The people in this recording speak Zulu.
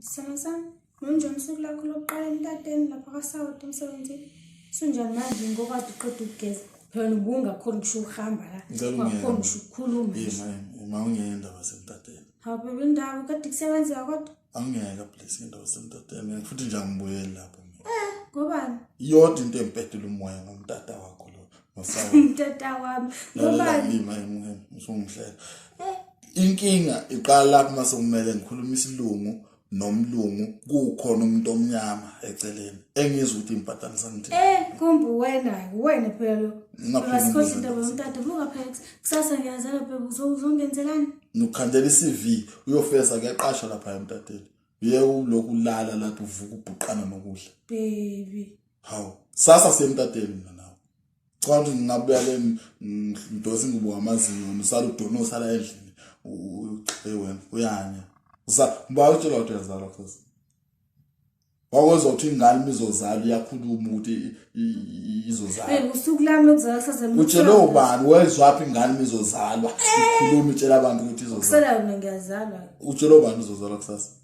Sithando sami, ngonjani usuku lakho lokuqala emtateni lapha kwasawoti emsebenzini? Sunjani manje ngoba kade uqeda ukugeza? Phela ubungakhona ngisho ukuhamba la. Ngicela ungene. Ungakhoni ngisho ukukhuluma. Yini manje? Uma ungeke indaba semtateni. Hawu bebe indaba kade kusebenzeka kodwa. Angeke please indaba semtateni. Ngeke futhi nje angibuyeli lapho mina. Ngobani? Iyodwa into empedula umoya ngomtata wakho lo. mtata wami ngobalima emngeni usungihlela inkinga iqala lapho uma sekumele ngikhuluma isilungu nomlungu kukhona umuntu omnyama eceleni engizwe ukuthi impatana samthi eh kumbe wena wena phela lo ngasikhohle into bomtata buka phex kusasa ngiyazela phela uzongenzelani nokhandela iCV uyofesa kuyaqasha lapha emtateni uye ulokulala lapho uvuka ubhuqana nokudla baby hawu sasa semtateni mina nawe cha ukuthi ngingabuya le ngidose ingubo ngamazinyo usala udona usala endlini uqhe wena uyanya usa uba utshela ukuthi yazalwa futhi wakozothi ingane imizozala iyakhuluma ukuthi izozala hey usuku lami lokuzala kusasa utshele ubani wezwaphi ingane imizozalwa ikhuluma itshela abantu ukuthi izozala kusala mina ngiyazalwa utshele ubani uzozala kusasa